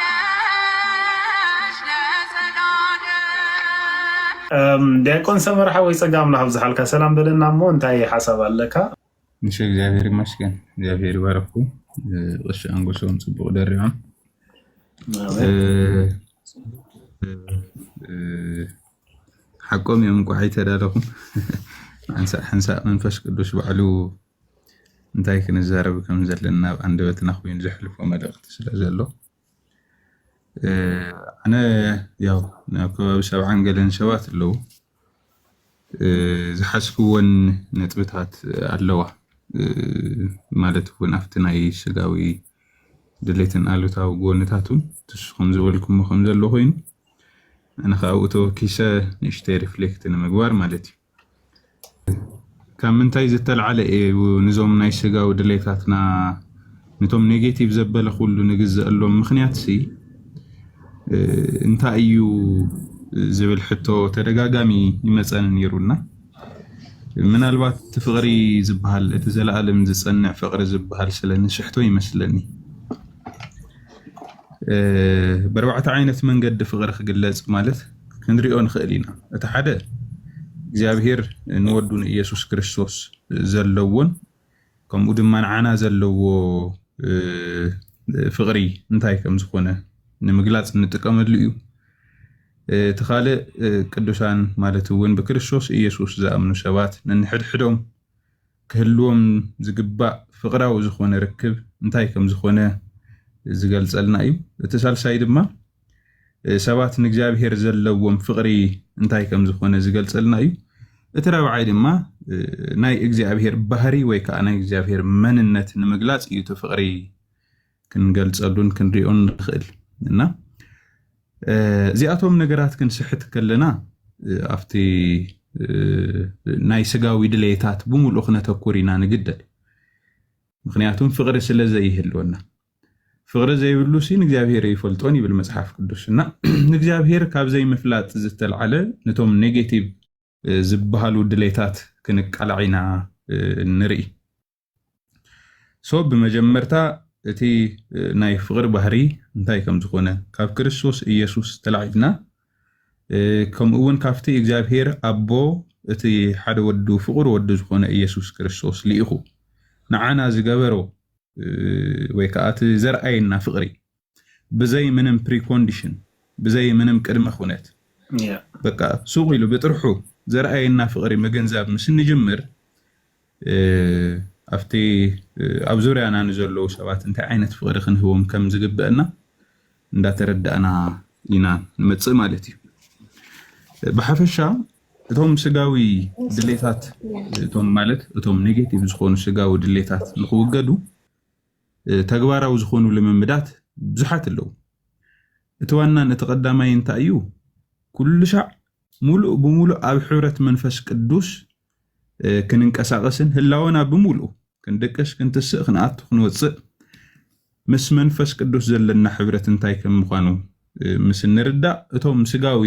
ትኖራለሽ ለዘላለም። ዲያቆን ሰመረ ሓወይ ፀጋ ኣምላኽ ኣብዝሓልካ ሰላም በለና እሞ እንታይ ሓሳብ ኣለካ? እሺ እግዚኣብሔር ይመስገን እግዚኣብሔር ይባረኩ ቀሺ ኣንጎሶም ፅቡቅ ደሪዖም ሓቆም እዮም እንኳዕ ኣይተዳለኹም ሓንሳእ ሓንሳእ መንፈስ ቅዱስ ባዕሉ እንታይ ክንዛረብ ከም ዘለና ኣብ ኣንደበትና ኮይኑ ዘሕልፎ መልእኽቲ ስለ ዘሎ ኣነ ያው ናብ ከባቢ ሰብዓን ገለን ሰባት ኣለዉ ዝሓዝክወን ነጥብታት ኣለዋ ማለት እውን ኣብቲ ናይ ስጋዊ ድሌትን ኣሉታዊ ጎንታቱን ንስኹም ዝበልኩሞ ከም ዘሎ ኮይኑ ኣነ ከዓ ኣብኡ ተወኪሰ ንእሽተይ ሪፍሌክት ንምግባር ማለት እዩ። ካብ ምንታይ ዝተልዓለ እዩ ንዞም ናይ ስጋዊ ድሌታትና ነቶም ኔጌቲቭ ዘበለ ኩሉ ንግዘአሎም ምክንያት ሲ እንታይ እዩ ዝብል ሕቶ ተደጋጋሚ ይመፀኒ ነይሩና ምናልባት እቲ ፍቅሪ ዝበሃል እቲ ዘለኣለም ዝፀንዕ ፍቅሪ ዝበሃል ስለ ንስሕቶ ይመስለኒ። በርባዕተ ዓይነት መንገዲ ፍቅሪ ክግለፅ ማለት ክንሪኦ ንክእል ኢና እቲ ሓደ እግዚኣብሄር ንወዱ ንኢየሱስ ክርስቶስ ዘለዎን ከምኡ ድማ ንዓና ዘለዎ ፍቅሪ እንታይ ከም ዝኾነ ንምግላፅ እንጥቀመሉ እዩ እቲ ካልእ ቅዱሳን ማለት እውን ብክርስቶስ ኢየሱስ ዝኣምኑ ሰባት ነንሕድሕዶም ክህልዎም ዝግባእ ፍቕራዊ ዝኾነ ርክብ እንታይ ከም ዝኾነ ዝገልጸልና እዩ። እቲ ሳልሳይ ድማ ሰባት ንእግዚኣብሔር ዘለዎም ፍቕሪ እንታይ ከም ዝኾነ ዝገልጸልና እዩ። እቲ ራብዓይ ድማ ናይ እግዚኣብሔር ባህሪ ወይ ከዓ ናይ እግዚኣብሔር መንነት ንምግላጽ እዩ እቲ ፍቕሪ ክንገልጸሉን ክንሪኦን ንኽእል እና እዚኣቶም ነገራት ክንስሕት ከለና ኣብቲ ናይ ስጋዊ ድሌታት ብምሉእ ክነተኩር ኢና ንግደድ ምክንያቱም ፍቅሪ ስለ ዘይህልወና ፍቅሪ ዘይብሉ ሲ ንእግዚኣብሄር ይፈልጦን ይብል መጽሓፍ ቅዱስ እና ንእግዚኣብሄር ካብ ዘይምፍላጥ ዝተልዓለ ነቶም ኔጌቲቭ ዝበሃሉ ድሌታት ክንቃላዕ ኢና ንርኢ ሶ ብመጀመርታ እቲ ናይ ፍቕሪ ባህሪ እንታይ ከም ዝኾነ ካብ ክርስቶስ ኢየሱስ ተላዒልና ከምኡ እውን ካብቲ እግዚኣብሔር ኣቦ እቲ ሓደ ወዱ ፍቑር ወዱ ዝኾነ ኢየሱስ ክርስቶስ ልኢኹ ንዓና ዝገበሮ ወይ ከዓ እቲ ዘርኣየና ፍቕሪ ብዘይ ምንም ፕሪኮንዲሽን ብዘይ ምንም ቅድመ ኩነት በቃ ሱቕ ኢሉ ብጥርሑ ዘርኣየና ፍቕሪ ምግንዛብ ምስ እንጅምር ኣብቲ ኣብ ዙርያና ንዘለዉ ሰባት እንታይ ዓይነት ፍቕሪ ክንህቦም ከም ዝግበአና እንዳተረዳእና ኢና ንመፅእ ማለት እዩ። ብሓፈሻ እቶም ስጋዊ ድሌታት እቶም ማለት እቶም ኔጌቲቭ ዝኾኑ ስጋዊ ድሌታት ንክውገዱ ተግባራዊ ዝኾኑ ልምምዳት ብዙሓት ኣለዉ። እቲ ዋናን እቲ ቀዳማይን እንታይ እዩ? ኩሉሻዕ ሙሉእ ብሙሉእ ኣብ ሕብረት መንፈስ ቅዱስ ክንንቀሳቐስን ህላወና ብምሉእ ክንድቅስ፣ ክንትስእ፣ ክንኣቱ፣ ክንወፅእ ምስ መንፈስ ቅዱስ ዘለና ሕብረት እንታይ ከም ምዃኑ ምስ እንርዳእ እቶም ስጋዊ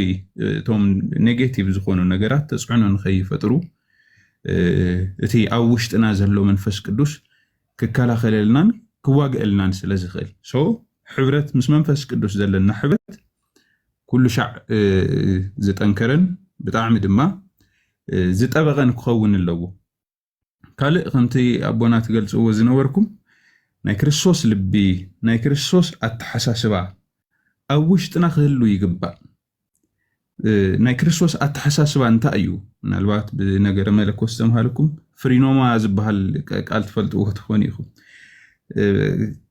እቶም ኔጌቲቭ ዝኾኑ ነገራት ተፅዕኖ ንኸይፈጥሩ እቲ ኣብ ውሽጥና ዘሎ መንፈስ ቅዱስ ክከላኸለልናን ክዋግእልናን ስለ ዝኽእል ሶ ሕብረት ምስ መንፈስ ቅዱስ ዘለና ሕብረት ኩሉ ሻዕ ዝጠንከረን ብጣዕሚ ድማ ዝጠበቐን ክኸውን ኣለዎ። ካልእ ከምቲ ኣቦና ትገልጽዎ ዝነበርኩም ናይ ክርስቶስ ልቢ ናይ ክርስቶስ ኣተሓሳስባ ኣብ ውሽጥና ክህሉ ይግባእ። ናይ ክርስቶስ ኣተሓሳስባ እንታይ እዩ? ምናልባት ብነገረ መለኮት ዝተምሃልኩም ፍሪኖማ ዝበሃል ቃል ትፈልጥዎ ትኾኑ ኢኹም።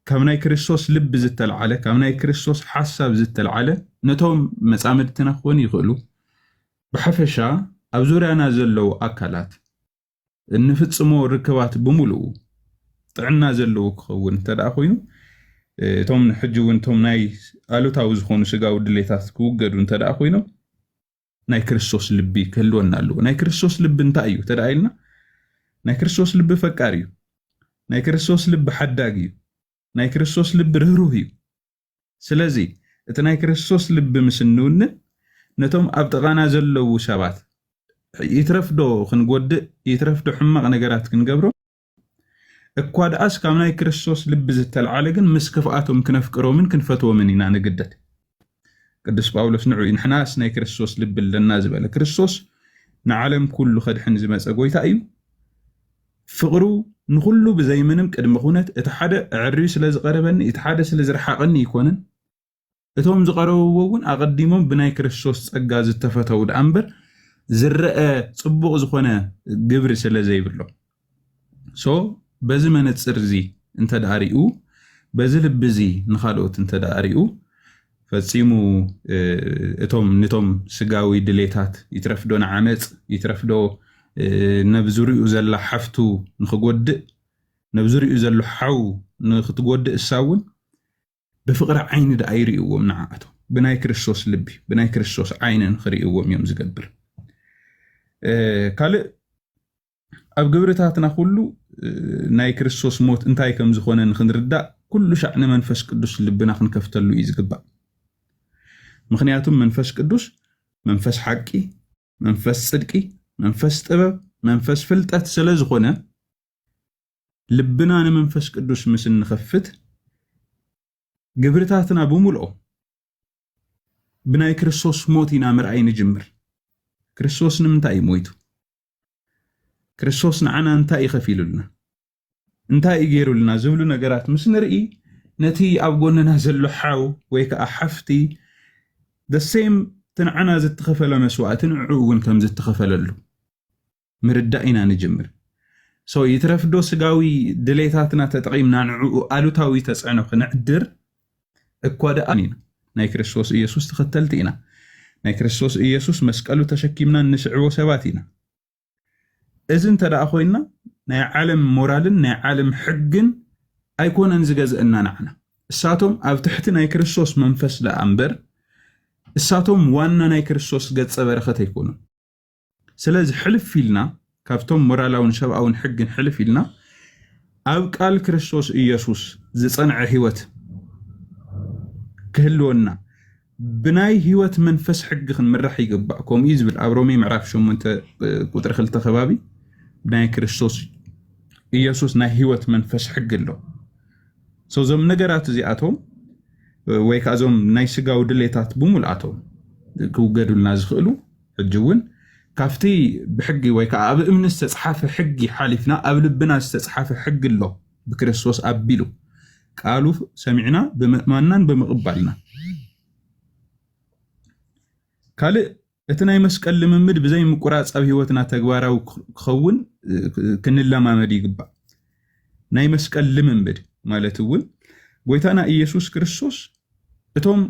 ካብ ናይ ክርስቶስ ልቢ ዝተልዓለ ካብ ናይ ክርስቶስ ሓሳብ ዝተልዓለ ነቶም መፃምድትና ክኾኑ ይኽእሉ ብሓፈሻ ኣብ ዙርያና ዘለዉ ኣካላት እንፍፅሞ ርክባት ብምሉኡ ጥዕና ዘለዎ ክኸውን እንተደኣ ኮይኑ እቶም ሕጂ እውን እቶም ናይ ኣሉታዊ ዝኾኑ ስጋዊ ድሌታት ክውገዱ እንተ ደኣ ኮይኖም ናይ ክርስቶስ ልቢ ክህልወና ኣለዎ። ናይ ክርስቶስ ልቢ እንታይ እዩ ተደኣ ኢልና ናይ ክርስቶስ ልቢ ፈቃር እዩ። ናይ ክርስቶስ ልቢ ሓዳግ እዩ። ናይ ክርስቶስ ልቢ ርህሩህ እዩ። ስለዚ እቲ ናይ ክርስቶስ ልቢ ምስ እንውንን ነቶም ኣብ ጥቓና ዘለዉ ሰባት ይትረፍ ዶ ክንጎድእ ይትረፍ ዶ ሕማቕ ነገራት ክንገብሮም እኳ ደኣስ ካብ ናይ ክርስቶስ ልቢ ዝተልዓለ ግን ምስ ክፍኣቶም ክነፍቅሮምን ክንፈትዎምን ኢና ንግደድ። ቅዱስ ጳውሎስ ንዑ ንሕናስ ናይ ክርስቶስ ልቢ ኣለና ዝበለ ክርስቶስ ንዓለም ኩሉ ከድሕን ዝመፀ ጎይታ እዩ ፍቕሩ ንኹሉ ብዘይ ምንም ቅድመ ኩነት እቲ ሓደ ኣዐርዩ ስለ ዝቐረበኒ እቲ ሓደ ስለ ዝረሓቐኒ ኣይኮነን፣ እቶም ዝቐረብዎ እውን ኣቐዲሞም ብናይ ክርስቶስ ጸጋ ዝተፈተዉ ደኣ እምበር ዝረኣ ጽቡቕ ዝኾነ ግብሪ ስለ ዘይብሎም so በዚ መነጽር እዚ እንተደኣ ሪኡ በዚ ልቢ እዚ ንኻልኦት እንተደኣ ሪኡ ፈጺሙ እቶም ንቶም ስጋዊ ድሌታት ይትረፍዶ ንዓመጽ ይትረፍዶ ነብዙርኡ ዘላ ሓፍቱ ንክጎድእ ነብዙርኡ ዘሎ ሓው ንክትጎድእ እሳ እውን ብፍቕሪ ዓይኒ ደኣ ይርእዎም ንዓኣቶም ብናይ ክርስቶስ ልቢ ብናይ ክርስቶስ ዓይኒ ንክርእዎም እዮም ዝገብር ካልእ ኣብ ግብርታትና ኩሉ ናይ ክርስቶስ ሞት እንታይ ከም ዝኾነ ንክንርዳእ ኩሉ ሻዕ ንመንፈስ ቅዱስ ልብና ክንከፍተሉ እዩ ዝግባእ። ምክንያቱም መንፈስ ቅዱስ መንፈስ ሓቂ፣ መንፈስ ጽድቂ፣ መንፈስ ጥበብ፣ መንፈስ ፍልጠት ስለ ዝኾነ ልብና ንመንፈስ ቅዱስ ምስ እንኸፍት ግብርታትና ብምልኦ ብናይ ክርስቶስ ሞት ኢና ምርኣይ ንጅምር። ክርስቶስ ንምንታይ እዩ ሞይቱ? ክርስቶስ ንዓና እንታይ እዩ ከፊሉልና፣ እንታይ እዩ ገይሩልና ዝብሉ ነገራት ምስ ንርኢ ነቲ ኣብ ጎንና ዘሎ ሓው ወይ ከዓ ሓፍቲ ደሴም እቲ ንዓና ዝተኸፈለ መስዋእቲ ንዕኡ እውን ከም ዝተኸፈለሉ ምርዳእ ኢና ንጅምር። ሶ ይትረፍዶ ስጋዊ ድሌታትና ተጠቒምና ንዕኡ ኣሉታዊ ተፅዕኖ ክነዕድር እኳ ደኣ ኣሚና ናይ ክርስቶስ ኢየሱስ ተኸተልቲ ኢና። ናይ ክርስቶስ ኢየሱስ መስቀሉ ተሸኪምና እንስዕቦ ሰባት ኢና። እዚ እንተ ደኣ ኮይንና ናይ ዓለም ሞራልን ናይ ዓለም ሕግን ኣይኮነን ዝገዝእና ንዓና። እሳቶም ኣብ ትሕቲ ናይ ክርስቶስ መንፈስ ደኣ እምበር እሳቶም ዋና ናይ ክርስቶስ ገጸ በረኸት ኣይኮኑን። ስለዚ ሕልፍ ኢልና ካብቶም ሞራላውን ሰብኣውን ሕግን ሕልፍ ኢልና ኣብ ቃል ክርስቶስ ኢየሱስ ዝጸንዐ ህይወት ክህልወና ብናይ ህይወት መንፈስ ሕጊ ክንምራሕ ይግባእ ከምኡ እዩ ዝብል ኣብ ሮሜ ምዕራፍ 8 ቁጥሪ 2 ከባቢ ናይ ክርስቶስ ኢየሱስ ናይ ህይወት መንፈስ ሕጊ ኣሎ እዞም ነገራት እዚኣቶም ወይ ከዓ እዞም ናይ ስጋዊ ድሌታት ብምልኣቶም ክውገዱልና ዝኽእሉ ሕጂ እውን ካብቲ ብሕጊ ወይ ከኣ ኣብ እምኒ ዝተጽሓፈ ሕጊ ሓሊፍና ኣብ ልብና ዝተጽሓፈ ሕጊ ኣሎ ብክርስቶስ ኣቢሉ ቃሉ ሰሚዕና ብምእማንናን ብምቕባልና ካልእ እቲ ናይ መስቀል ልምምድ ብዘይ ምቁራጽ ኣብ ህይወትና ተግባራዊ ክኸውን ክንለማመድ ይግባእ ናይ መስቀል ልምምድ ማለት እውን ጎይታና ኢየሱስ ክርስቶስ እቶም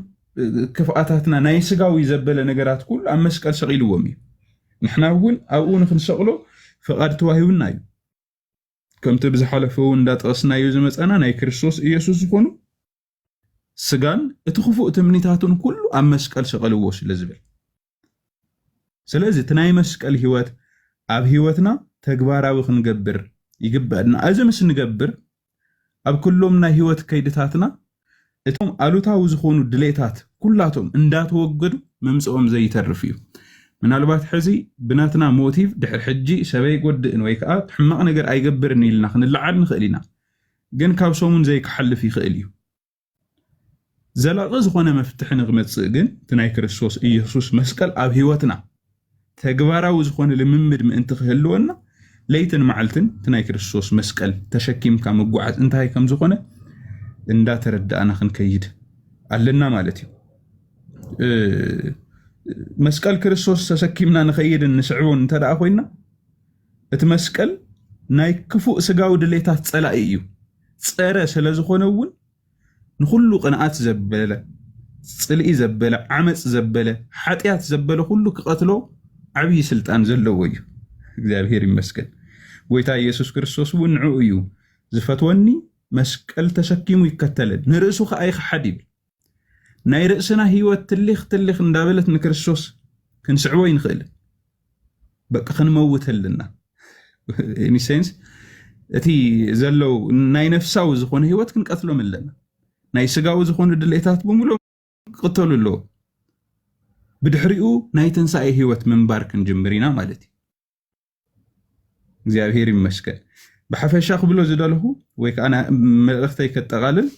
ክፍኣታትና ናይ ስጋዊ ዘበለ ነገራት ኩሉ ኣብ መስቀል ሰቒልዎም እዩ። ንሕና እውን ኣብኡ ንክንሰቕሎ ፍቓድ ተዋሂቡና እዩ። ከምቲ ብዝሓለፈ እውን እንዳጠቐስናዮ ዝመፃና ናይ ክርስቶስ ኢየሱስ ዝኾኑ ስጋን እቲ ክፉእ ትምኒታቱን ኩሉ ኣብ መስቀል ሰቐልዎ ስለ ዝብል ስለዚ እቲ ናይ መስቀል ህይወት ኣብ ህይወትና ተግባራዊ ክንገብር ይግበአና እዚ ምስ ንገብር ኣብ ኩሎም ናይ ህይወት ከይድታትና እቶም ኣሉታዊ ዝኾኑ ድሌታት ኩላቶም እንዳተወገዱ ምምፅኦም ዘይተርፍ እዩ ምናልባት ሕዚ ብናትና ሞቲቭ ድሕር ሕጂ ሰበይ ጎድእን ወይ ከዓ ሕማቕ ነገር ኣይገብርን ኢልና ክንለዓል ንኽእል ኢና ግን ካብ ሰሙን ዘይክሓልፍ ይኽእል እዩ። ዘላቒ ዝኾነ መፍትሒ ንክመጽእ ግን እቲ ናይ ክርስቶስ ኢየሱስ መስቀል ኣብ ሕይወትና ተግባራዊ ዝኾነ ልምምድ ምእንቲ ክህልወና ለይትን መዓልትን እቲ ናይ ክርስቶስ መስቀል ተሸኪምካ ምጓዓዝ እንታይ ከም ዝኾነ እንዳተረዳእና ክንከይድ ኣለና ማለት እዩ። መስቀል ክርስቶስ ተሰኪምና ንኸይድን ንስዕቦን እንተደኣ ኮይና እቲ መስቀል ናይ ክፉእ ስጋዊ ድሌታት ጸላኢ እዩ። ጸረ ስለ ዝኾነ እውን ንኹሉ ቅንኣት ዘበለ፣ ጽልኢ ዘበለ፣ ዓመጽ ዘበለ፣ ሓጢኣት ዘበለ ኩሉ ክቐትሎ ዓብዪ ስልጣን ዘለዎ እዩ። እግዚኣብሔር ይመስገን ጎይታ ኢየሱስ ክርስቶስ እውን ንዕኡ እዩ ዝፈትወኒ መስቀል ተሰኪሙ ይከተለኒ ንርእሱ ከኣ ይኸሓድ ይብል። ናይ ርእስና ህይወት ትሊኽ ትሊኽ እንዳበለት ንክርስቶስ ክንስዕቦ ይንኽእል በቃ ክንመውት ኣለና ኒሴንስ እቲ ዘለው ናይ ነፍሳዊ ዝኾነ ህይወት ክንቀትሎም ኣለና ናይ ስጋዊ ዝኾኑ ድሌታት ብምሉእ ክቕተሉ ኣለዎ ብድሕሪኡ ናይ ትንሳኤ ህይወት ምንባር ክንጅምር ኢና ማለት እዩ እግዚኣብሄር ይመስገን ብሓፈሻ ክብሎ ዝደለኹ ወይ ከዓ መልእኽተይ ከጠቓልል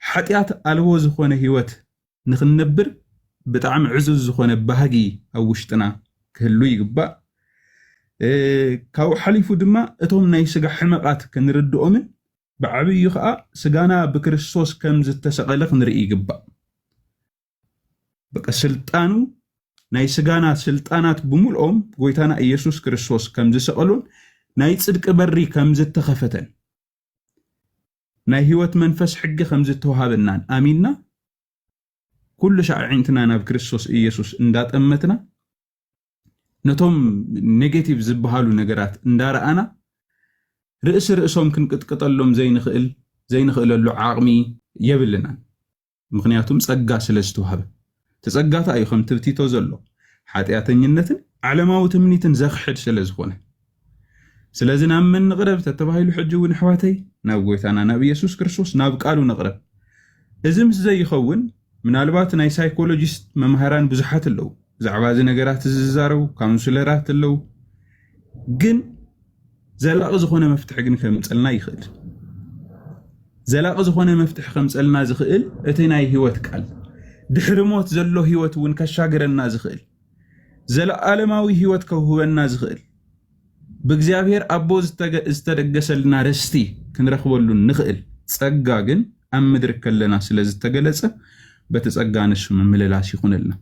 ሓጢኣት ኣልቦ ዝኾነ ህይወት ንክንነብር ብጣዕሚ ዕዙዝ ዝኾነ ባህጊ ኣብ ውሽጥና ክህሉ ይግባእ ካብኡ ሓሊፉ ድማ እቶም ናይ ስጋ ሕመቓት ክንርድኦምን ብዓብዩ ከዓ ስጋና ብክርስቶስ ከም ዝተሰቐለ ክንርኢ ይግባእ በቃ ስልጣኑ ናይ ስጋና ስልጣናት ብምልኦም ጎይታና ኢየሱስ ክርስቶስ ከም ዝሰቐሉን ናይ ጽድቂ በሪ ከም ዝተኸፈተን ናይ ህይወት መንፈስ ሕጊ ከም ዝተዋሃበናን ኣሚንና ኩሉ ሻዕ ኣዒንትና ናብ ክርስቶስ ኢየሱስ እንዳጠመትና ነቶም ኔጌቲቭ ዝበሃሉ ነገራት እንዳረኣና ርእሲ ርእሶም ክንቅጥቅጠሎም ዘይንኽእል ዘይንኽእለሉ ዓቕሚ የብልናን። ምኽንያቱም ጸጋ ስለ ዝተዋህበ። እቲ ጸጋታ እዩ ከምቲ ብቲቶ ዘሎ ሓጢኣተኝነትን ዓለማዊ ትምኒትን ዘኽሕድ ስለ ዝኾነ። ስለዚ ናብ መን ንቕረብ ተተባሂሉ ሕጂ እውን ኣሕዋተይ ናብ ጎይታና ናብ ኢየሱስ ክርስቶስ ናብ ቃሉ ንቕረብ። እዚ ምስ ዘይኸውን ምናልባት ናይ ሳይኮሎጂስት መማህራን ብዙሓት ኣለዉ ብዛዕባ እዚ ነገራት እዚ ዝዛረቡ ካውንስለራት ኣለዉ ግን ዘላቒ ዝኾነ መፍትሒ ግን ከምፀልና ይኽእል ዘላቒ ዝኾነ መፍትሒ ከምፀልና ዝኽእል እቲ ናይ ህይወት ቃል ድሕሪ ሞት ዘሎ ህይወት እውን ከሻግረና ዝኽእል ዘለዓለማዊ ህይወት ከውህበና ዝኽእል ብእግዚኣብሔር ኣቦ ዝተደገሰልና ርስቲ ክንረኽበሉ ንኽእል ጸጋ ግን ኣብ ምድሪ ከለና ስለ ዝተገለጸ በቲ ጸጋ ንሱ ምምልላስ ይኹነልና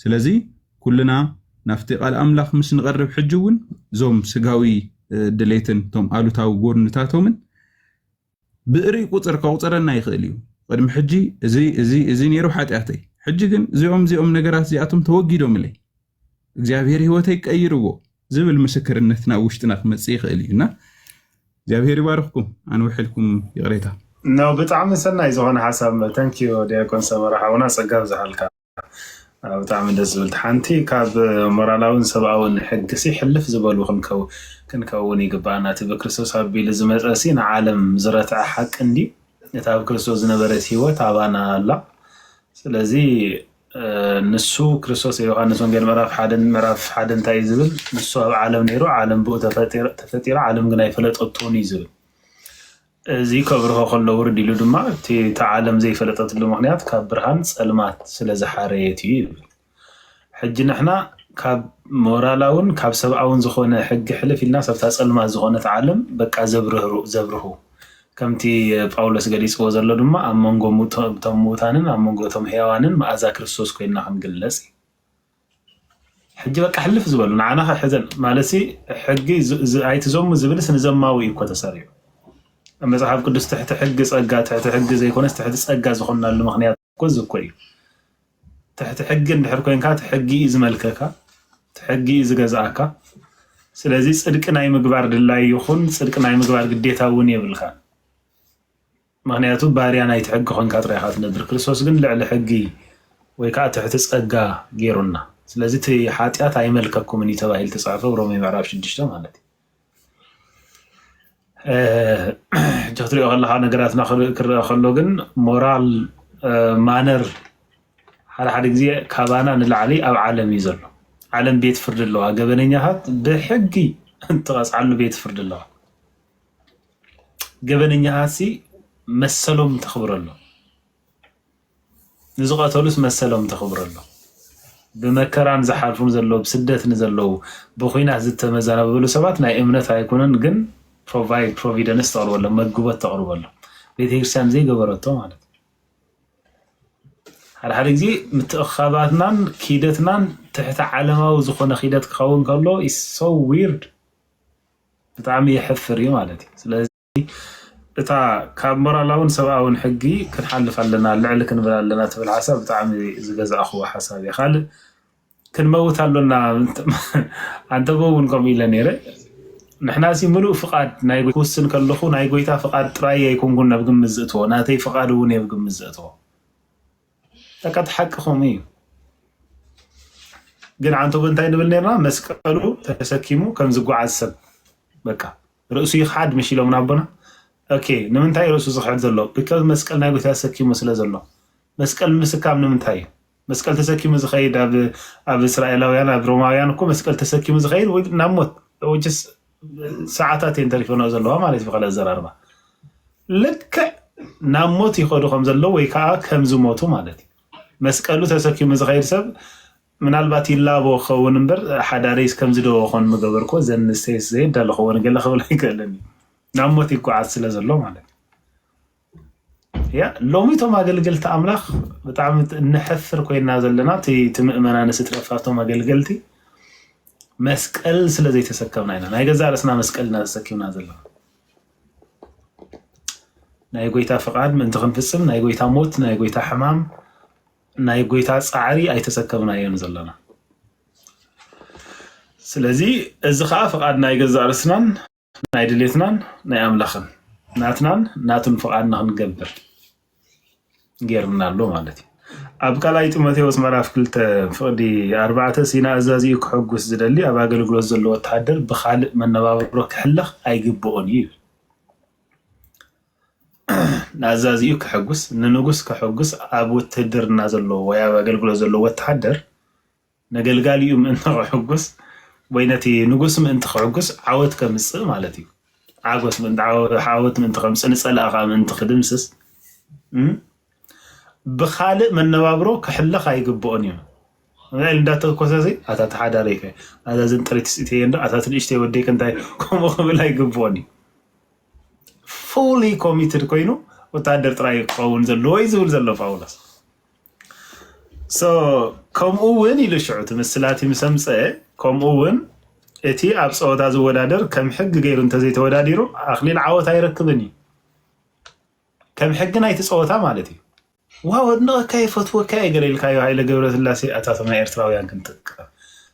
ስለዚ ኩልና ናብቲ ቃል ኣምላኽ ምስ ንቐርብ ሕጂ እውን እዞም ስጋዊ ድሌትን እቶም ኣሉታዊ ጎድንታቶምን ብእርይ ቁጽር ከቑጽረና ይኽእል እዩ። ቅድሚ ሕጂ እዚ እዚ እዚ ነይሩ ሓጢኣተይ፣ ሕጂ ግን እዚኦም እዚኦም ነገራት እዚኣቶም ተወጊዶምለይ፣ እግዚኣብሔር ህይወተይ ቀይርዎ ዝብል ምስክርነት ናብ ውሽጥና ክመጽእ ይኽእል እዩ እና እግዚኣብሔር ይባርኽኩም። ኣንውሕልኩም ይቕሬታ። ነው ብጣዕሚ ሰናይ ዝኾነ ሓሳብ ተንኪዩ ዲያቆን ሰመረ ሓውና ጸጋ ኣብዝሓልካ። ብጣዕሚ ደስ ዝብል ሓንቲ ካብ ሞራላውን ሰብኣውን ሕጊ ሲ ሕልፍ ዝበሉ ክንከውን ይግበኣና እቲ ብክርስቶስ ኣቢሉ ዝመፀ ሲ ንዓለም ዝረትዐ ሓቂ እንድዩ እቲ ኣብ ክርስቶስ ዝነበረት ሂወት ኣባና ኣላ ስለዚ ንሱ ክርስቶስ ዮሃንስ ወንጌል ምዕራፍ ሓደን ምዕራፍ ሓደ እንታይ እዩ ዝብል ንሱ ኣብ ዓለም ነይሩ ዓለም ብኡ ተፈጢራ ዓለም ግን ኣይፈለጠቶን እዩ ዝብል እዚ ከብርሆ ከሎ ውርድ ኢሉ ድማ እቲ እታ ዓለም ዘይፈለጠትሉ ምኽንያት ካብ ብርሃን ጸልማት ስለ ዝሓረየት እዩ ይብል። ሕጂ ንሕና ካብ ሞራላውን ካብ ሰብኣውን ዝኾነ ሕጊ ሕልፍ ኢልናስ ኣብታ ጸልማት ዝኾነት ዓለም በቃ ዘብርህሩ ዘብርሁ ከምቲ ጳውሎስ ገሊጽዎ ዘሎ ድማ ኣብ መንጎ እቶም ምዉታንን ኣብ መንጎ እቶም ሕያዋንን መኣዛ ክርስቶስ ኮይንና ክንግለጽ እዩ። ሕጂ በቃ ሕልፍ ዝበሉ ንዓና ከሕዘን ማለትሲ ሕጊ ኣይትዘሙ ዝብልስ ንዘማዊ እዩ እኮ ተሰሪዑ መጽሓፍ ቅዱስ ትሕቲ ሕጊ ጸጋ ትሕቲ ሕጊ ዘይኮነስ ትሕቲ ጸጋ ዝኾናሉ ምክንያት እኮ እዚ እኮ እዩ ትሕቲ ሕጊ እንድሕር ኮንካ እቲ ሕጊ እዩ ዝመልከካ እቲ ሕጊ እዩ ዝገዝኣካ ስለዚ ጽድቂ ናይ ምግባር ድላይ ይኹን ጽድቂ ናይ ምግባር ግዴታ እውን የብልካ ምኽንያቱ ባርያ ናይቲ ሕጊ ኮንካ ጥራይ ኢኻ ትነብር ክርስቶስ ግን ልዕሊ ሕጊ ወይ ከኣ ትሕቲ ጸጋ ጌሩና ስለዚ እቲ ሓጢኣት ኣይመልከኩምን እዩ ተባሂሉ ተጻሕፈ ሮሜ ምዕራፍ ሽዱሽተ ማለት እዩ ሕጂ ክትሪኦ ከለካ ነገራትና ክረአ ከሎ ግን ሞራል ማነር ሓደ ሓደ ግዜ ካባና ንላዕሊ ኣብ ዓለም እዩ ዘሎ ዓለም ቤት ፍርዲ ኣለዋ ገበነኛታት ብሕጊ እትቐፅዓሉ ቤት ፍርዲ ኣለዋ ገበነኛታትሲ መሰሎም ተኽብረሎም፣ ንዝቐተሉስ መሰሎም ተኽብረሎም፣ ብመከራ ንዝሓልፉ ዘለዉ፣ ብስደት ንዘለዉ፣ ብኹናት ዝተመዛበሉ ሰባት ናይ እምነት ኣይኮነን ግን ፕሮቫይድ ፕሮቪደንስ ተቕርበሎም፣ መግቦት ተቕርበሎም፣ ቤተ ክርስቲያን ዘይገበረቶ ማለት እዩ። ሓደ ሓደ ግዜ ምትእኽኻባትናን ኪደትናን ትሕቲ ዓለማዊ ዝኾነ ኪደት ክኸውን ከሎ ሶ ዊርድ ብጣዕሚ የሕፍር እዩ ማለት እዩ ስለዚ እታ ካብ ሞራላውን ሰብኣውን ሕጊ ክንሓልፍ ኣለና ልዕሊ ክንብል ኣለና ትብል ሓሳብ ብጣዕሚ ዝገዛእኽዎ ሓሳብ እየ ካልእ ክንመውት ኣሎና ኣንተበ እውን ከምኡ ኢለ ነይረ ንሕና ሲ ምሉእ ፍቃድ ናይ ክውስን ከለኹ ናይ ጎይታ ፍቃድ ጥራይ ኣይኮንኩን ናብ ግምት ዝእትዎ ናተይ ፍቃድ እውን እየ ኣብ ግምት ዘእትዎ በቃ እቲ ሓቂ ከምኡ እዩ። ግን ዓንተቦ እንታይ ንብል ነርና? መስቀሉ ተሰኪሙ ከም ዝጓዓዝ ሰብ በቃ ርእሱ ይኽሓድ ምሽ ኢሎምና ኣቦና። ኦኬ ንምንታይ ርእሱ ዝኽሕድ ዘሎ? ቢካዝ መስቀል ናይ ጎይታ ተሰኪሙ ስለ ዘሎ። መስቀል ምስካም ንምንታይ እዩ? መስቀል ተሰኪሙ ዝኸይድ ኣብ ኣብ እስራኤላውያን ኣብ ሮማውያን እኮ መስቀል ተሰኪሙ ዝኸይድ ወይ ናብ ሞት which is ሰዓታት እየን ተሪፈና ዘለዋ ማለት ብካልእ ኣዘራርባ ልክዕ ናብ ሞት ይኸዱ ከም ዘለዉ ወይ ከዓ ከም ዝሞቱ ማለት እዩ። መስቀሉ ተሰኪሙ ዝኸይድ ሰብ ምናልባት ይላቦ ክኸውን እምበር ሓዳረይስ ከምዚ ዶ ኾን ምገበርኮ ዘንስተይስ ዘየዳለኸዎ ገለ ክብል ኣይክእልን እዩ። ናብ ሞት ይጓዓዝ ስለ ዘሎ ማለት እዩ። ያ ሎሚ እቶም ኣገልገልቲ ኣምላኽ ብጣዕሚ እነሕፍር ኮይና ዘለና እቲ እቲ ምእመና ንስ ትረፋቶም ኣገልገልቲ መስቀል ስለ ዘይተሰከምና ኢና ናይ ገዛ ርእስና መስቀል ኢና ተሰኪምና ዘለና ናይ ጎይታ ፍቃድ ምእንቲ ክንፍጽም ናይ ጎይታ ሞት ናይ ጎይታ ሕማም ናይ ጎይታ ጻዕሪ ኣይተሰከምና እዮም ዘለና ስለዚ እዚ ከዓ ፍቃድ ናይ ገዛ ርእስናን ናይ ድሌትናን ናይ ኣምላኽን ናትናን ናቱን ፍቓድ ንክንገብር ገይርና ኣሎ ማለት እዩ ኣብ ካልኣይ ጢሞቴዎስ ምዕራፍ ክልተ ፍቕዲ ኣርባዕተ ሲና ኣዛዚኡ ክሕጉስ ዝደሊ ኣብ ኣገልግሎት ዘሎ ወተሃደር ብካልእ መነባብሮ ክሕለኽ ኣይግብኦን እዩ ይብል ንኣዛዚኡ ክሕጉስ ንንጉስ ክሕጉስ ኣብ ውትህድርና ዘሎ ወይ ኣብ ኣገልግሎት ዘሎ ወተሃደር ነገልጋሊኡ ምእንቲ ኼሕጕስ ወይ ነቲ ንጉስ ምእንቲ ኼሕጕስ ዓወት ኬምጽእ ማለት እዩ። ዓጐስ ምእንቲ ዓወት ምእንቲ ኼምጽእ ንጸላኢ ኸኣ ምእንቲ ኺድምስስ ብኻልእ መነባብሮ ኪሕለኽ ኣይግብኦን እዩ። ል እንዳተኮሰሲ ኣታ ተሓዳሪከ ኣታ ዘንጠሪት ስኢተየ እንዶ ኣታ ትንእሽተይ ወደይከ እንታይ ከምኡ ክብል ኣይግብኦን እዩ ፉሊ ኮሚትድ ኮይኑ ወታደር ጥራይ ክኸውን ዘለዎ እዩ ዝብል ዘሎ ጳውሎስ ሶ ከምኡ እውን ኢሉ ሽዑ እቲ ምስላ እቲ ምስ ኣምፀአ ከምኡ እውን እቲ ኣብ ፀወታ ዝወዳደር ከም ሕጊ ገይሩ እንተዘይተወዳዲሩ ኣኽሊል ዓወት ኣይረክብን እዩ ከም ሕጊ ናይቲ ፀወታ ማለት እዩ ዋው ኣድንቐካ የፈትወካ እየ ገለ ኢልካዮ ሃይለ ገብረስላሴ ኣታቶም ናይ ኤርትራውያን ክንጥቀም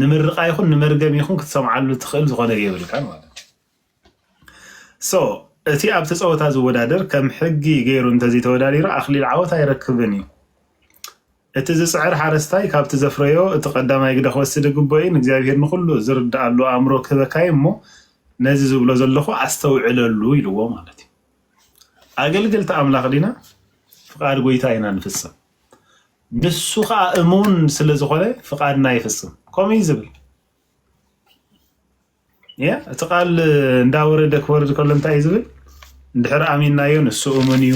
ንምርቓ ይኹን ንመርገም ይኹን ክትሰምዓሉ ትኽእል ዝኾነ የብልካን ማለት እዩ ሶ እቲ ኣብቲ ፀወታ ዝወዳደር ከም ሕጊ ገይሩ እንተዘይተወዳዲሩ ኣኽሊል ዓወት ኣይረክብን እዩ እቲ ዝፅዕር ሓረስታይ ካብቲ ዘፍረዮ እቲ ቀዳማይ ግደ ክወስድ ግቦ እዩ ንእግዚኣብሄር ንኹሉ ዝርድኣሉ ኣእምሮ ክህበካ እዩ እሞ ነዚ ዝብሎ ዘለኹ ኣስተውዕለሉ ኢልዎ ማለት እዩ ኣገልገልቲ ኣምላኽ ዲና ፍቃድ ጎይታ ኢና ንፍፅም ንሱ ኸኣ እሙን ስለ ዝኾነ ፍቓድና ይፍጽም። ከምኡ እዩ ዝብል ያ እቲ ቃል እንዳወረደ ክወርድ ከሎ እንታይ እዩ ዝብል? እንድሕር ኣሚናዮ ንሱ እሙን እዩ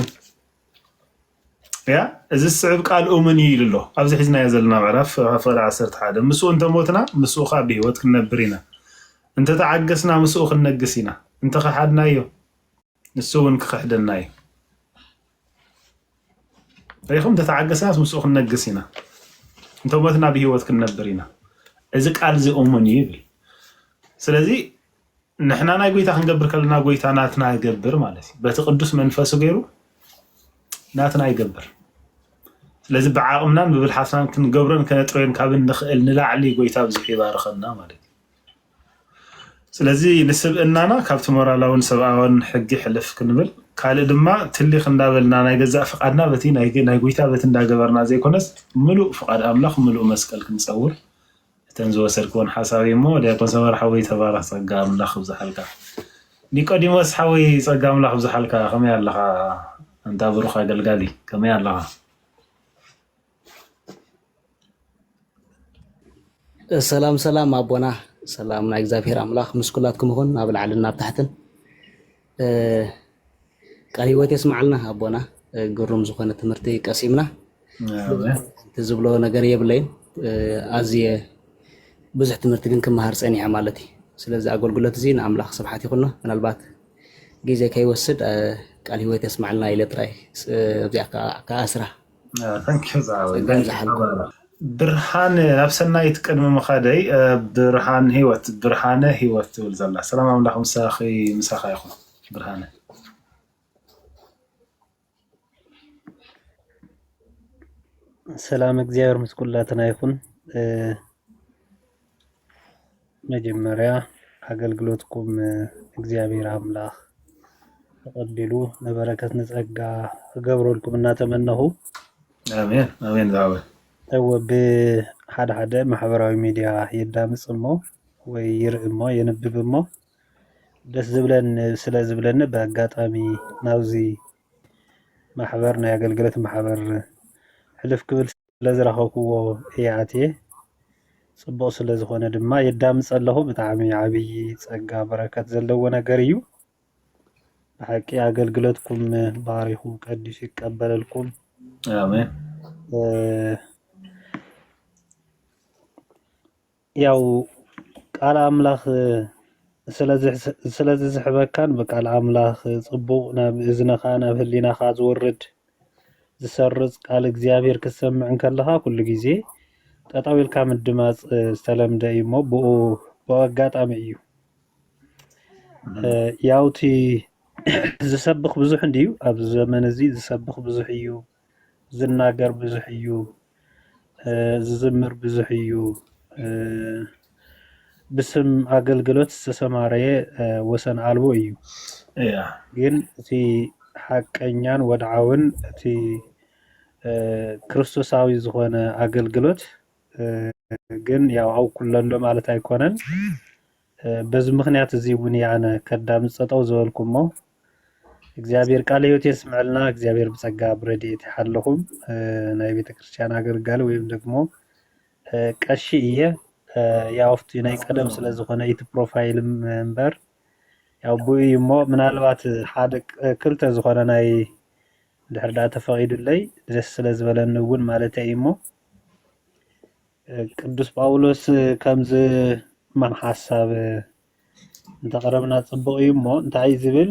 ያ እዚ ዝስዕብ ቃል እሙን እዩ ኢሉ ኣሎ። ኣብዚ ሒዝናዮ ዘለና ምዕራፍ ፍቕሪ ዓሰርተ ሓደ ምስኡ እንተሞትና ምስኡ ከዓ ብህይወት ክንነብር ኢና፣ እንተተዓገስና ምስኡ ክንነግስ ኢና፣ እንተኸሓድናዮ ንሱ እውን ክኽሕደና እዩ ሪኹም ተተዓገስናስ ምስኡ ክንነግስ ኢና እንተሞትና ብሂወት ክንነብር ኢና እዚ ቃል እዚ እሙን እዩ ይብል ስለዚ ንሕና ናይ ጎይታ ክንገብር ከለና ጎይታ ናትና ይገብር ማለት እዩ በቲ ቅዱስ መንፈሱ ገይሩ ናትና ይገብር ስለዚ ብዓቕምናን ብብልሓትናን ክንገብሮን ከነጥረዮን ካብ እንኽእል ንላዕሊ ጎይታ ብዙሕ ይባርኸና ማለት እዩ ስለዚ ንስብእናና ካብቲ ሞራላውን ሰብኣውን ሕጊ ሕልፍ ክንብል፣ ካልእ ድማ ትሊኽ እንዳበልና ናይ ገዛእ ፍቓድና በቲ ናይ ጉይታ በቲ እንዳገበርና ዘይኮነስ ምሉእ ፍቓድ ኣምላኽ ምሉእ መስቀል ክንጸውር እተን ዝወሰድክወን ሓሳብ እዩሞ ዲያቆን ሰመረ ሓወይ ተባረኽ ጸጋ ኣምላኽ ይብዝሓልካ። ኒቆዲሞስ ሓወይ ጸጋ ኣምላኽ ይብዝሓልካ ከመይ ኣለኻ ኣንታ ብሩኽ ኣገልጋሊ ከመይ ኣለኻ? ሰላም ሰላም ኣቦና ሰላም ናይ እግዚኣብሔር ኣምላክ ምስ ኩላትኩም ይኹን ኣብ ላዕልን ናብ ታሕትን ቃል ህይወት የስማዓልና ኣቦና ግሩም ዝኾነ ትምህርቲ ቀሲምና እቲ ዝብሎ ነገር የብለይን ኣዝየ ብዙሕ ትምህርቲ ግን ክመሃር ፀኒሐ ማለት እዩ ስለዚ ኣገልግሎት እዚ ንኣምላኽ ስብሓት ይኹኖ ምናልባት ግዜ ከይወስድ ቃል ህይወት የስማዓልና ኢለ ጥራይ ኣብዚኣ ከዓ ስራ ተንኪው ዝዓበይ ጸጋ ተንኪው ይብዛሓልኩም። ሓባራ ብርሃን ናብ ሰናይት ቅድሚ ምኻደይ እ፣ ብርሃን ህይወት ብርሃነ ህይወት ትብል ዘላ ሰላም ኣምላኽ ምሳኺ ምሳኻ ይኹን ብርሃነ ሰላም እግዚኣብሔር ምስ ኩላትና ይኹን። እ፣ መጀመርያ ኣገልግሎትኩም እግዚኣብሔር ኣምላኽ ተቀቢሉ ንበረከት ንጸጋ ክገብረልኩም እናተመነኹ ኣሜን ኣሜን ዝዓበ እወ ብሓደ ሓደ ማሕበራዊ ሚድያ የዳምፅ እሞ ወይ ይርኢ እሞ የንብብ እሞ ደስ ዝብለን ስለ ዝብለኒ ብኣጋጣሚ ናብዚ ማሕበር ናይ ኣገልግሎት ማሕበር ሕልፍ ክብል ስለ ዝረኸብክዎ እየ ኣትየ ጽቡቅ ስለ ዝኾነ ድማ የዳምጸ ኣለኹ ብጣዕሚ ዓብዪ ጸጋ በረከት ዘለዎ ነገር እዩ ብሓቂ ኣገልግሎትኩም ባሪኹ ቀዲሱ ይቀበለልኩም ኣሜን ያው ቃል ኣምላኽ ስለ ዝስሕበካን ብቃል ኣምላኽ ጽቡቕ ናብ እዝንኻ ናብ ህሊናኻ ዝወርድ ዝሰርጽ ቃል እግዚኣብሔር ክትሰምዕ እንከለኻ ኩሉ ግዜ ጠጠው ኢልካ ምድማጽ ዝተለምደ እዩ እሞ ብኡ ብኡ ኣጋጣሚ እዩ ያውቲ ዝሰብኽ ብዙሕ እንድዩ ኣብዚ ዘመን እዚ ዝሰብኽ ብዙሕ እዩ ዝናገር ብዙሕ እዩ ዝዝምር ብዙሕ እዩ ብስም ኣገልግሎት ዝተሰማረየ ወሰን ኣልቦ እዩ ግን እቲ ሓቀኛን ወድዓውን እቲ ክርስቶሳዊ ዝኾነ ኣገልግሎት ግን ያው ኣብ ኩለሎ ማለት ኣይኮነን በዚ ምኽንያት እዚ እውን እየ ኣነ ከዳምፅ ጠጠው ዝበልኩ እሞ እግዚኣብሔር ቃለ ሕይወት የስምዐልና። እግዚኣብሔር ብጸጋ ብረድኤት ይሓልኹም። ናይ ቤተ ክርስቲያን ኣገልጋሊ ወይም ደግሞ ቀሺ እየ ያው ኣብቲ ናይ ቀደም ስለ ዝኾነ እቲ ፕሮፋይል እምበር ያው ብኡ እዩ እሞ ምናልባት ሓደ ክልተ ዝኾነ ናይ ድሕር ዳኣ ተፈቒዱለይ ደስ ስለ ዝበለኒ እውን ማለተይ እዩ እሞ ቅዱስ ጳውሎስ ከምዚ ሕማም ሓሳብ እንተቕረብና ጽቡቕ እዩ እሞ እንታይ እዩ ዝብል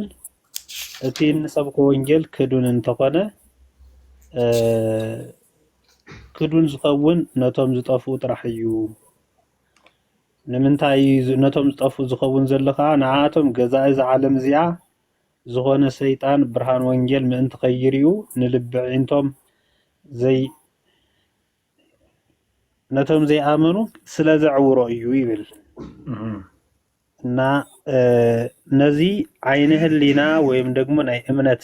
እቲ እንሰብኮ ወንጌል ክዱን እንተኾነ ክዱን ዝኸውን ነቶም ዝጠፍኡ ጥራሕ እዩ ንምንታይ ነቶም ዝጠፍኡ ዝኸውን ዘሎ ከዓ ንኣቶም ገዛኢ እዛ ዓለም እዚኣ ዝኾነ ሰይጣን ብርሃን ወንጌል ምእንቲ ከይርዩ ንልቢ ዒንቶም ዘይ ነቶም ዘይኣመኑ ስለ ዘዕውሮ እዩ ይብል እና ነዚ ዓይነ ህሊና ወይም ደግሞ ናይ እምነት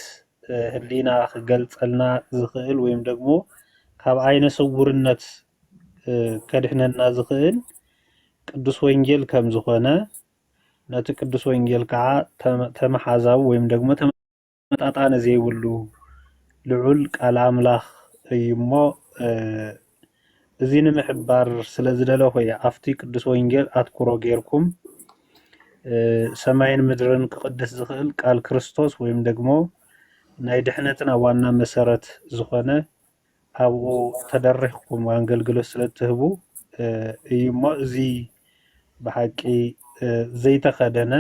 ህሊና ክገልጸልና ዝኽእል ወይም ደግሞ ካብ ዓይነ ስውርነት ከድሕነና ዝኽእል ቅዱስ ወንጌል ከም ዝኾነ ነቲ ቅዱስ ወንጌል ከዓ ተመሓዛዊ ወይም ደግሞ ተመጣጣኒ ዘይብሉ ልዑል ቃል ኣምላኽ እዩ እሞ እዚ ንምሕባር ስለ ዝደለኹ እየ ኣብቲ ቅዱስ ወንጌል ኣትኩሮ ጌርኩም ሰማይን ምድርን ክቕድስ ዝኽእል ቃል ክርስቶስ ወይም ደግሞ ናይ ድሕነትና ዋና መሰረት ዝኾነ ኣብኡ ተደሪኽኩም ኣንገልግሎት ስለ እትህቡ እዩ እሞ እዚ ብሓቂ ዘይተኸደነ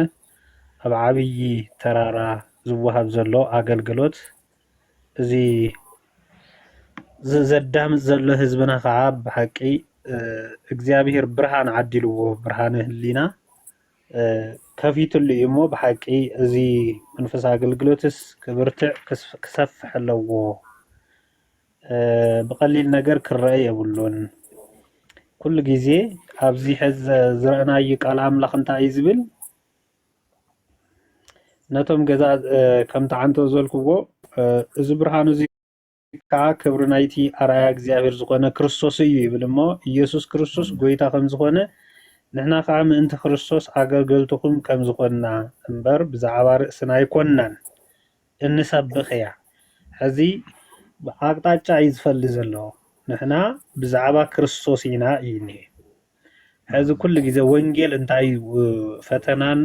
ኣብ ዓብዪ ተራራ ዝወሃብ ዘሎ ኣገልግሎት እዚ ዘዳምፅ ዘሎ ህዝብና ከዓ ብሓቂ እግዚኣብሔር ብርሃን ዓዲልዎ ብርሃነ ህሊና ከፊትሉ እዩ እሞ ብሓቂ እዚ መንፈሳዊ ኣገልግሎትስ ክብርትዕ ክሰፍሕ ኣለዎ ብቀሊል ነገር ክረአ የብሉን ኩሉ ግዜ ኣብዚ ሕዚ ዝረእናዩ ቃል ኣምላኽ እንታይ እዩ ዝብል ነቶም ገዛ ከም ተዓንቶ ዘልክዎ እዚ ብርሃን እዚ ከኣ ክብሪ ናይቲ ኣርኣያ እግዚኣብሔር ዝኾነ ክርስቶስ እዩ ይብል እሞ ኢየሱስ ክርስቶስ ጐይታ ከም ዝኾነ ንሕና ከኣ ምእንቲ ክርስቶስ ኣገልገልትኹም ከም ዝኾንና እምበር ብዛዕባ ርእስና ኣይኮንናን እንሰብኽያ ሕዚ ኣቅጣጫ እዩ ዝፈሊ ዘሎ ንሕና ብዛዕባ ክርስቶስ ኢና እዩ እኒሀ ሕዚ ኩሉ ግዜ ወንጌል እንታይ እዩ ፈተናን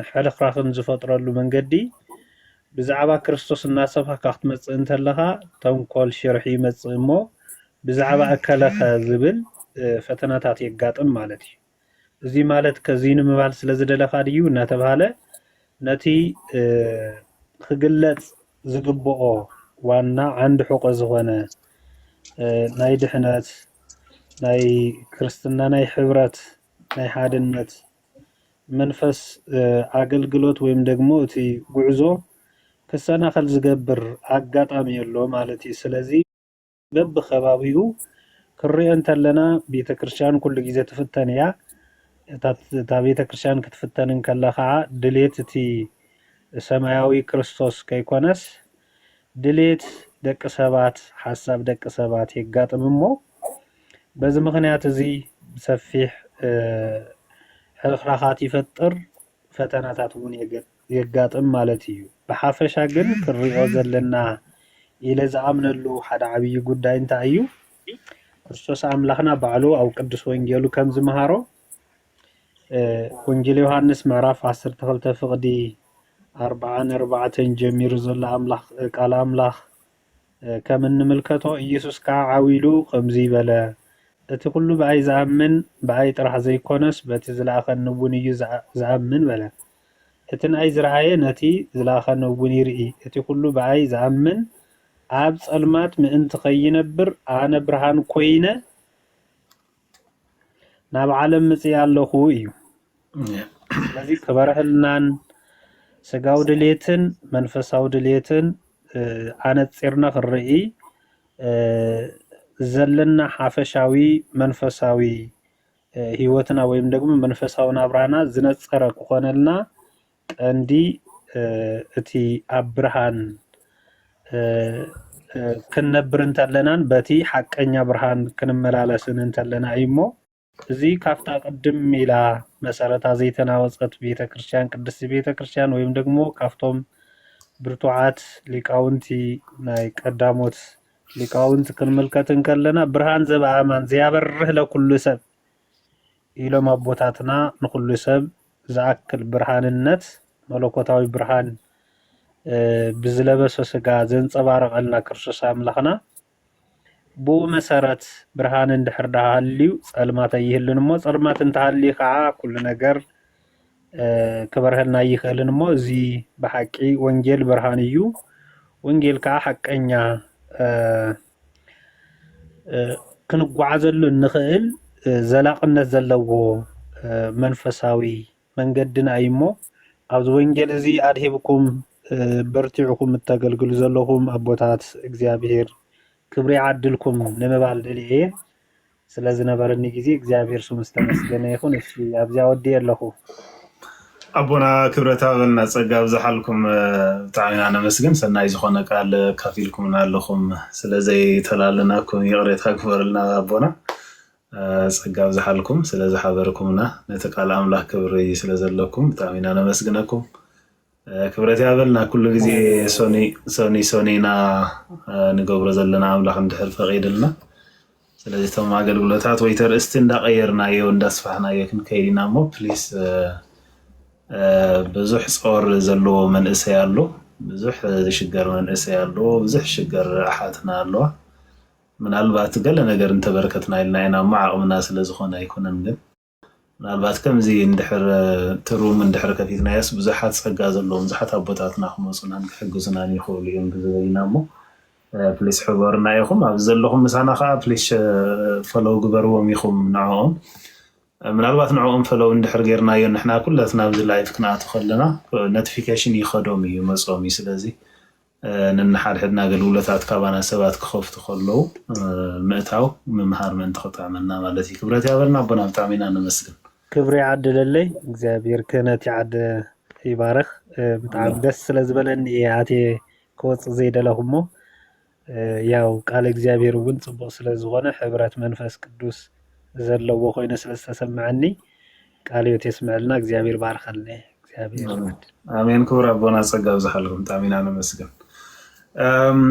ሕርኽራኽን ዝፈጥረሉ መንገዲ ብዛዕባ ክርስቶስ እናሰብኽካ ክትመጽእ እንተለኻ ተንኮል ሽርሒ ይመጽእ እሞ ብዛዕባ እከለኸ ዝብል ፈተናታት የጋጥም ማለት እዩ። እዚ ማለት ከዚ ንምባል ስለ ዝደለኻ ድዩ እናተብሃለ ነቲ ክግለጽ ዝግብኦ ዋና ዓንዲ ሕቆ ዝኾነ ናይ ድሕነት ናይ ክርስትና ናይ ሕብረት ናይ ሓድነት መንፈስ ኣገልግሎት ወይም ደግሞ እቲ ጉዕዞ ክሰናኸል ዝገብር ኣጋጣሚ ኣሎ ማለት እዩ። ስለዚ በብከባቢኡ ክንሪኦ እንተለና ቤተክርስትያን ኩሉ ግዜ ትፍተን እያ። እታ ቤተክርስትያን ክትፍተን እንከላ ከዓ ድሌት እቲ ሰማያዊ ክርስቶስ ከይኮነስ ድሌት ደቂ ሰባት ሓሳብ ደቂ ሰባት የጋጥም እሞ በዚ ምክንያት እዚ ሰፊሕ ሕርኽራኻት ይፈጥር ፈተናታት እውን የገጥም። የጋጥም ማለት እዩ። ብሓፈሻ ግን ክንሪኦ ዘለና ኢለ ዝኣምነሉ ሓደ ዓብዪ ጉዳይ እንታይ እዩ? ክርስቶስ ኣምላኽና ባዕሉ ኣብ ቅዱስ ወንጌሉ ከም ዝመሃሮ ወንጌል ዮሃንስ ምዕራፍ ዓሰርተ ክልተ ፍቕዲ ኣርብዓ ንኣርባዕተን ጀሚሩ ዘሎ ኣምላኽ ቃል ኣምላኽ ከም እንምልከቶ ኢየሱስ ከዓ ዓው ኢሉ ከምዙይ በለ እቲ ኩሉ ብኣይ ዝኣምን ብኣይ ጥራሕ ዘይኮነስ በቲ ዝለኣኸኒ እውን እዩ ዝኣምን በለ። እቲ ንኣይ ዝረኣየ ነቲ ዝለኣኸነውን ይርኢ፣ እቲ ዅሉ ብኣይ ዝኣምን ኣብ ጸልማት ምእንቲ ኸይነብር፣ ኣነ ብርሃን ኰይነ ናብ ዓለም መጺኣ ኣለኹ እዩ። ስለዚ ክበርሀልናን ስጋዊ ድሌትን መንፈሳዊ ድሌትን ኣነጺርና ክንርኢ ዘለና ሓፈሻዊ መንፈሳዊ ህይወትና ወይም ደግሞ መንፈሳዊ ናብራና ዝነጸረ ክኾነልና ቀንዲ እቲ ኣብ ብርሃን ክንነብር እንተለናን በቲ ሓቀኛ ብርሃን ክንመላለስን እንተለና እዩ እሞ እዚ ካብታ ቅድም ኢላ መሰረታ ዘይተናወፀት ቤተ ክርስቲያን ቅድስቲ ቤተ ክርስቲያን ወይም ደግሞ ካብቶም ብርቱዓት ሊቃውንቲ ናይ ቀዳሞት ሊቃውንት ክንምልከት እንከለና ብርሃን ዘበኣማን ዘያበርህ ለኩሉ ሰብ ኢሎም ኣቦታትና ንኩሉ ሰብ ዝኣክል ብርሃንነት መለኮታዊ ብርሃን ብዝለበሰ ስጋ ዘንጸባረቐልና ክርስቶስ ኣምላኽና ብኡ መሰረት ብርሃን እንድሕር ዳሃልዩ ጸልማት ኣይህልን እሞ ጸልማት እንተሃልዩ ከዓ ኩሉ ነገር ክበርሀልና ኣይኽእልን እሞ እዚ ብሓቂ ወንጌል ብርሃን እዩ ወንጌል ከዓ ሓቀኛ ክንጓዓዘሉ እንኽእል ዘላቕነት ዘለዎ መንፈሳዊ መንገድና እዩ እሞ ኣብዚ ወንጌል እዚ ኣድሂብኩም በርቲዕኹም እተገልግሉ ዘለኹም ኣቦታት እግዚኣብሄር ክብሪ ይዓድልኩም ንምባል ደልየ እየ ስለ ዝነበረኒ ግዜ እግዚኣብሔር ስሙ ዝተመስገነ ይኩን እሺ ኣብዚ ኣወዲኤ ኣለኩ። ኣቦና ክብረት ሃበልና ጸጋ ኣብዝሓልኩም ብጣዕሚ ኢና ነመስግን ሰናይ ዝኾነ ቃል ካፊልኩምና ኣለኹም ስለ ዘይተላለናኩም ይቕሬታ ግበርልና ኣቦና ጸጋ ኣብዝሓልኩም ስለ ዝሓበርኩምና ነቲ ቃል ኣምላኽ ክብሪ ስለ ዘለኩም ብጣዕሚ ኢና ነመስግነኩም ክብረት ያበልና ኩሉ ግዜ ሶኒ ሶኒ ሶኒ ኢና ንገብሮ ዘለና ኣምላኽ እንድሕር ፈቒድልና ስለዚ እቶም ኣገልግሎታት ወይ ተርእስቲ እንዳቐየርናዮ እንዳስፋሕናዮ ክንከይድ ኢና እሞ ፕሊስ ብዙሕ ፆር ዘለዎ መንእሰይ ኣሎ ብዙሕ ዝሽገር መንእሰይ ኣሎ ብዙሕ ሽገር ኣሓትና ኣለዋ ምናልባት ገለ ነገር እንተበርከትና ኢልና ኢና እሞ ዓቕምና ስለዝኾነ ኣይኮነን ግን ምናልባት ከምዚ እንድሕር ትሩም እንድሕር ከፊትናዮስ ብዙሓት ጸጋ ዘለዎም ብዙሓት ኣቦታትና ክመጹናን ክሕግዙናን ይኽእሉ እዮም ብዝበይና እሞ ፕሊስ ሕበሩና ኢኹም ኣብዚ ዘለኹም ምሳና ከዓ ፕሊስ ፈለው ግበርዎም ኢኹም ንዕኦም ምናልባት ንዕኦም ፈለው እንድሕር ጌርናዮ ንሕና ኩለትና ኣብዚ ላይፍ ክንኣቱ ከለና ኖቲፊኬሽን ይኸዶም እዩ መጾም እዩ ስለዚ ነንሓድሕድና ኣገልግሎታት ካባና ሰባት ክኸፍቱ ከለው ምእታው ምምሃር ምእንቲ ክጥዕመና ማለት እዩ። ክብረት ያበልና ኣቦና ብጣዕሚ ኢና ነመስግን። ክብሪ ይዓድለለይ እግዚኣብሔር ክህነት ይዓደ ይባርኽ ብጣዕሚ ኣሜን ደስ ስለ ዝበለኒ እየ ኣትየ ክወፅእ ዘይደለኹ እሞ እ፣ ያው ቃለ እግዚኣብሔር እውን ፅቡቕ ስለ ዝኾነ ሕብረት መንፈስ ቅዱስ ዘለዎ ኮይነ ስለ ዝተሰምዐኒ ቃለ ሕይወት የስመዐልና እግዚኣብሔር ይባርኸልነ እግዚኣብሔር ኣሜን ኣሜን ክቡር ኣቦና ጸጋ ብዝሓልኩም ብጣዕሚ ኢና ነመስግን እም፣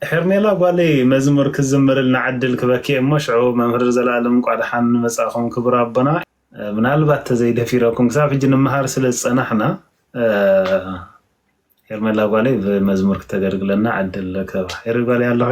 ሄርሜላ ጓለይ መዝሙር ክዝምርልና ዕድል ክበኪ እየ እሞ ሽዑ መምህር ዘላለም እንቋ ደሓን መጻእኹም ክቡር ኣቦና እ፣ ምናልባት ተዘይደፊረኩም ክሳብ ሕጂ ንመሃር ስለ ዝጸናሕና እ፣ ሄርሜላ ጓለይ ብመዝሙር ክተገልግለና ዕድል ክህባ ሄሪ ጓለይ ኣለኺ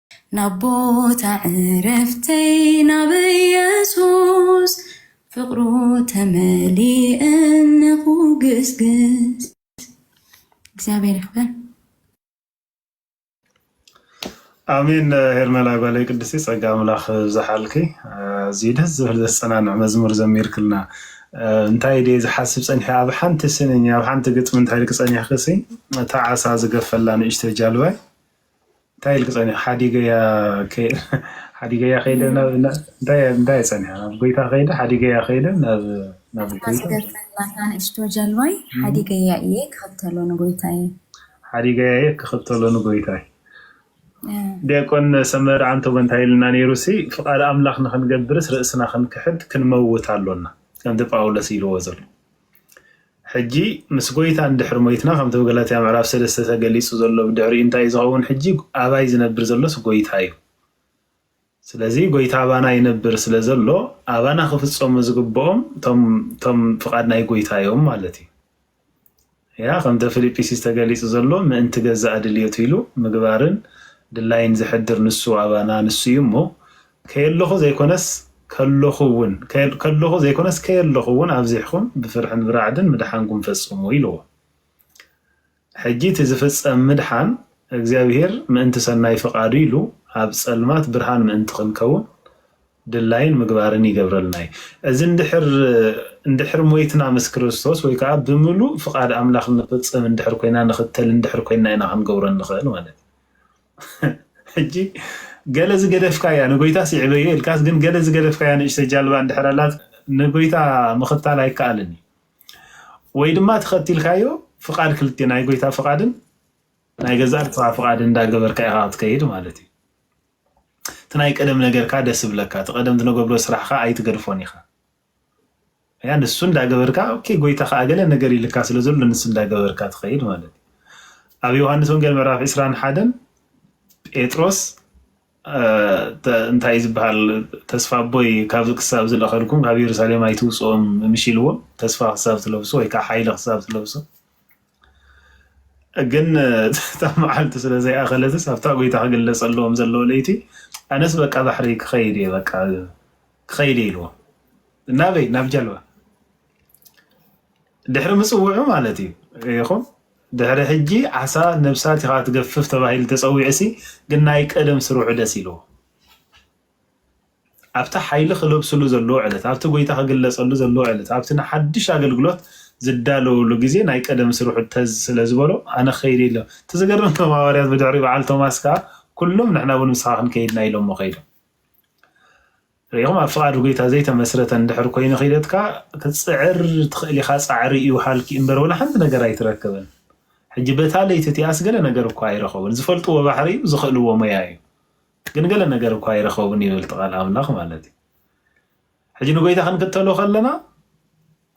ናብ ቦታ ዕረፍተይ ናብ ኢየሱስ ፍቕሩ ተመሊእኒ ኩግስግስ እግዚኣብሔር ይኽበር። ኣሜን ሄርሜላ ጓለይ ቅድስቲ ጸጋ ኣምላኽ ብዝሓልኪ ኣዝዩ ደስ ዝብል ዘሰናንዕ መዝሙር ዘሚርክልና እንታይ ደ ዝሓስብ ፀኒሐ ኣብ ሓንቲ ስንኝ ኣብ ሓንቲ ግጥሚ እንታይ ክፀኒሕክሲ እታ ዓሳ ዝገፈላ ንእሽተይ ጃልባይ እንታይ ኢልኪ ፀኒሑ ሓዲገያ ከይደ እንታይ ፀኒሑ ናብ ጎይታ ከይደ ሓዲገያ ከይደ ናብ ጎይታ ንእሽቶ ጀልባይ ሓዲገያ እየ ክኽተሎ ንጎይታይ ሓዲገያ እየ ክኽተሎ ንጎይታይ ዲያቆን ሰመረ ዓንተቦ እንታይ ኢልና ነይሩ ሲ ፍቃድ ኣምላኽ ንክንገብርስ ርእስና ክንክሕድ ክንመውት ኣሎና ከምቲ ጳውሎስ ኢልዎ ዘሎ ሕጂ ምስ ጎይታ እንድሕሪ ሞይትና ከምቲ ብ ገላትያ ምዕራፍ ሰለስተ ተገሊጹ ዘሎ ብድሕሪኡ እንታይ እዩ ዝኸውን ሕጂ ኣባይ ዝነብር ዘሎስ ጎይታ እዩ ስለዚ ጎይታ ኣባና ይነብር ስለ ዘሎ ኣባና ክፍጸሙ ዝግብኦም ቶም ቶም ፍቃድ ናይ ጎይታ እዮም ማለት እዩ ያ ከምተ ፊልጵስዩስ ተገሊጹ ዘሎ ምእንቲ ገዛእ ድልየቱ ኢሉ ምግባርን ድላይን ዘሕድር ንሱ ኣባና ንሱ እዩ እሞ ከየለኹ ዘይኮነስ ከለኹ እውን ከለኹ ዘይኮነስ ከየለኹ እውን ኣብዚሕኹም ብፍርሕን ብራዕድን ምድሓንኩም ፈጽሙ ኢልዎ። ሕጂ እቲ ዝፍጸም ምድሓን እግዚኣብሄር ምእንቲ ሰናይ ፍቓዱ ኢሉ ኣብ ጸልማት ብርሃን ምእንቲ ክንከውን ድላይን ምግባርን ይገብረልና እዩ። እዚ እንድሕር እንድሕር ሞይትና ምስ ክርስቶስ ወይ ከዓ ብምሉእ ፍቓድ ኣምላኽ ንፍጽም እንድሕር ኮይና ንኽተል እንድሕር ኮይና ኢና ክንገብሮ እንኽእል ማለት እዩ። ሕጂ ገለ ዝገደፍካያ ንጎይታስ ይዕበዮ ኢልካስ ግን ገለ ዝገደፍካያ ንእሽተ ጃልባ እንድሕር ኣላት ንጎይታ ምኽታል ኣይከኣልን እዩ ወይ ድማ ተኸቲልካዮ ፍቃድ ክልቴ ናይ ጎይታ ፍቃድን ናይ ገዛእ ርእስኻ ፍቃድ እንዳገበርካ ኢኻ ክትከይድ ማለት እዩ እቲ ናይ ቀደም ነገርካ ደስ ይብለካ እቲ ቀደም ትነገብሮ ስራሕካ ኣይትገድፎን ኢኻ ያ ንሱ እንዳገበርካ ኦኬ ጎይታ ከኣ ገለ ነገር ይልካ ስለ ዘሎ ንሱ እንዳገበርካ ትኸይድ ማለት እዩ። ኣብ ዮሃንስ ወንጌል ምዕራፍ 20 ሓደን ጴጥሮስ አ፣ ተ- እንታይ እዩ ዝበሃል ተስፋ ኣቦይ ካብዚ ክሳብ ዝለኸልኩም ካብ የሩሳሌም ኣይትውፅኦም ምሽ ኢልዎ ተስፋ ክሳብ ትለብሶ ወይ ከዓ ሓይሊ ክሳብ ትለብሶ ግን እታ መዓልቲ ስለ ዘይኣኸለትስ ኣብታ ጎይታ ክግለፀሎም ዘለዎ ለይቲ ኣነስ በቃ ባሕሪ ክኸይድ እየ በቃ ክኸይድ እየ ኢልዎ ናበይ ናብ ጀልባ ድሕሪ ምፅውዑ ማለት እዩ ይኹም ድሕሪ ሕጂ ዓሳ ነብሳት ኢኻ ትገፍፍ ተባሂሉ ተፀዊዑ ሲ ግን ናይ ቀደም ስርሑ ደስ ኢልዎ ኣብቲ ሓይሊ ክለብስሉ ዘለዎ ዕለት ኣብቲ ጎይታ ክግለፀሉ ዘለዎ ዕለት ኣብቲ ንሓድሽ ኣገልግሎት ዝዳለውሉ ግዜ ናይ ቀደም ስርሑ ተዝ ስለ ዝበሎ ኣነ ከይደ ኢሎ እቲ ዝገርም ቶም ሃዋርያት ብድሕሪ በዓል ቶማስ ከዓ ኩሎም ንሕና እውን ምስኻ ክንከይድና ኢሎሞ ከይዶም ርኢኹም ኣብ ፍቓድ ጎይታ ዘይተመስረተ እንድሕር ኮይኑ ኺደትካ ክትጽዕር ትኽእል ኢኻ ጻዕሪ እዩ ሃልኪ እምበር ወላ ሓንቲ ነገር ኣይትረክብን ሕጂ በታ ለይቲ እቲኣስ ገለ ነገር እኳ ኣይረኸቡን ዝፈልጥዎ ባሕሪ እዩ ዝኽእልዎ ሞያ እዩ ግን ገለ ነገር እኳ ኣይረኸቡን ይብል ቃል ኣምላኽ ማለት እዩ ሕጂ ንጎይታ ክንክተሎ ከለና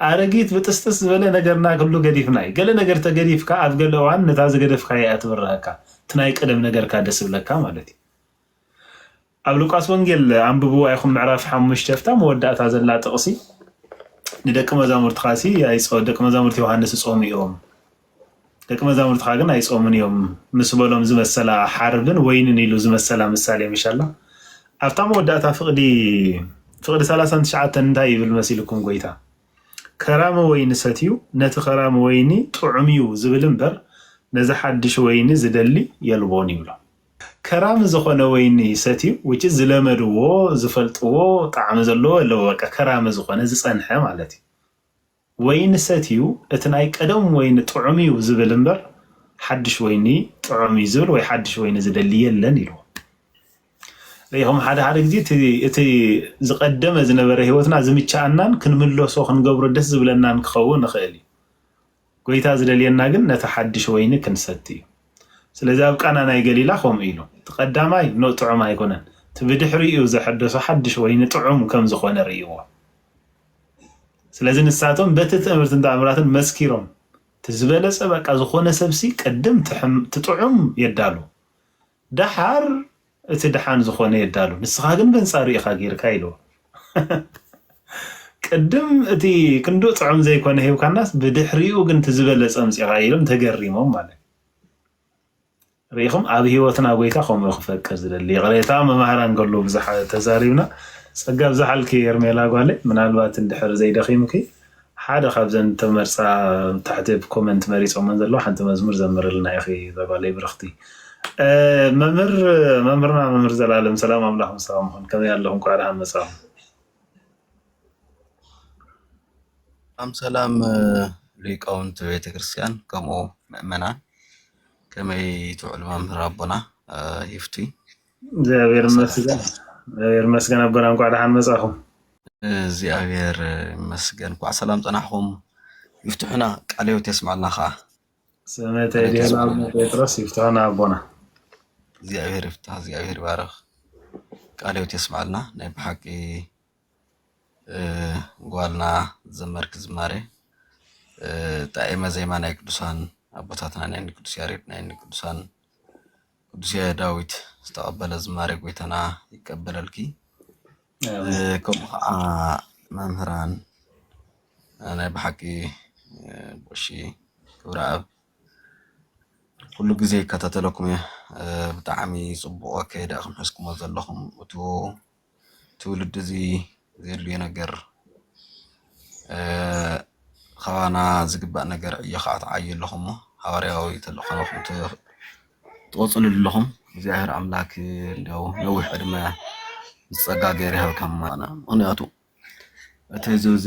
ኣረጊት ብጥስጥስ ዝበለ ነገርና ክሉ ገዲፍና እዩ ገለ ነገር ተገዲፍካ ኣብ ገለ እዋን ነታ ዝገደፍካ እያ ትብርሃካ እቲ ናይ ቀደም ነገርካ ደስ ብለካ ማለት እዩ ኣብ ሉቃስ ወንጌል ኣንብብዋ ኢኹም ምዕራፍ ሓሙሽተ ፍታ መወዳእታ ዘላ ጥቕሲ ንደቂ መዛሙርትኻ ሲ ኣይጾ ደቂ መዛሙርቲ ዮሃንስ ይጾሙ እዮም ደቂ መዛሙርትኻ ግን ኣይጾሙን እዮም ምስ በሎም ዝመሰላ ሓርብን ወይንን ኢሉ ዝመሰላ ምሳሌ ምሻላ ኣብታ መወዳእታ ፍቕዲ ፍቕዲ ሰላሳን ትሽዓተን እንታይ ይብል መሲልኩም ጎይታ ከራሚ ወይኒ ሰትዩ ነቲ ከራሚ ወይኒ ጥዑም እዩ ዝብል እምበር ነዚ ሓድሽ ወይኒ ዝደሊ የልቦን ይብሎ። ከራሚ ዝኮነ ወይኒ ሰትዩ which is ዝለመድዎ ዝፈልጥዎ ጣዕሚ ዘለዎ ኣለዎ በቃ ከራሚ ዝኮነ ዝጸንሐ ማለት እዩ ወይኒ ሰትዩ እቲ ናይ ቀደም ወይኒ ጥዑም እዩ ዝብል እምበር ሓድሽ ወይኒ ጥዑም እዩ ዝብል ወይ ሓድሽ ወይኒ ዝደሊ የለን ኢልዎ ርኢኹም ሓደ ሓደ ግዜ እቲ ዝቀደመ ዝነበረ ህይወትና ዝምቸኣናን ክንምለሶ ክንገብሮ ደስ ዝብለናን ክኸውን ይኽእል እዩ ጐይታ ዚደልየና ግን ነቲ ሓድሽ ወይኒ ክንሰቲ እዩ። ስለዚ ኣብ ቃና ናይ ገሊላ ከምኡ ኢሉ። እቲ ቀዳማይ ን ጥዑም ኣይኰነን፣ እቲ ብድሕሪኡ ዘሐደሶ ሓድሽ ወይኒ ጥዑም ከም ዝዀነ ርእይዎ። ስለዚ ንሳቶም በቲ ትእምርትን ተኣምራትን መስኪሮም። እቲ ዝበለጸ በቃ ዝዀነ ሰብሲ ቅድም እቲ ጥዑም የዳሉ። ደሓር እቲ ደሓን ዝኾነ የዳሉ ንስኻ ግን በንጻሩ ኢኻ ጌርካ ኢልዎ ቅድም እቲ ክንድኡ ጥዑም ዘይኮነ ሂብካናስ ብድሕሪኡ ግን እቲ ዝበለጸ ኣምጺኻ ኢሎም ተገሪሞም ማለት ርኢኹም ኣብ ህይወትና ጎይታ ከምኡ ክፈቅር ዝደሊ ይቕሬታ መማህራን ከሎ ብዙሓ ተዛሪብና ጸጋ ብዝሓልኪ ኤርሜላ ጓለይ ምናልባት እንድሕር ዘይደኺምኪ ሓደ ካብዘን ዝተመርጻ ኣብ ታሕቲ ኣብ ኮመንት መሪጾመን ዘለዉ ሓንቲ መዝሙር ዘምርልና ኢኺ እዛ ጓለይ ብርኽቲ። መምህር መምህርና መምህር ዘላለም ሰላም ኣምላኽ ምሳኹም ይኹን ከመይ ኣለኹም ኳዕ ደሓን መጻኹም። ሰላም ሰላም ሊቃውንቲ ቤተ ክርስቲያን ከምኡ ምእመናን ከመይ ትውዕሉ መምህር ኣቦና ይፍቲ እግዚኣብሔር ይመስገን እግዚኣብሔር ይመስገን ኣቦና እንኳዕ ደሓን መጻኹም። እግዚኣብሔር ይመስገን እንኳዕ ሰላም ጸናሕኹም። ይፍትሑና ቃለ ሕይወት የስምዐልና ከዓ ሰመታይ ዲና ኣቡነ ጴጥሮስ ይፍትሑና ኣቦና። እግዚኣብሔር ይፍታሕ፣ እግዚኣብሔር ይባረኽ፣ ቃለ ሕይወት የስምዐልና። ናይ ብሓቂ ጓልና ዘመርክ ዝማሬ ጣዕመ ዜማ ናይ ቅዱሳን ኣቦታትና ናይ ቅዱስ ያሬድ ናይ ቅዱሳን ቅዱስ ዳዊት ዝተቐበለ ዝማሬ ጎይታና ይቀበለልኪ። ከምኡ ከዓ መምህራን ናይ ብሓቂ ቦሺ ክብረኣብ ኩሉ ግዜ ይከታተለኩም እየ ብጣዕሚ ፅቡቕ ኣካይዳ ኢኹም ሒዝኩሞ ዘለኹም እቱ ትውልዲ እዚ ዘድልዮ ነገር ካባና ዝግባእ ነገር ዕዮ ከዓ ትዓዩ ኣለኹም እሞ ሃዋርያዊ ተልእኾ ትቕፅልሉ ኣለኹም እግዚኣብሔር ኣምላክ እንዲያው ነዊሕ ዕድመ ምስ ፀጋ ገይሩ ይሃብካ ምኽንያቱ እቲ ህዝቢ እዚ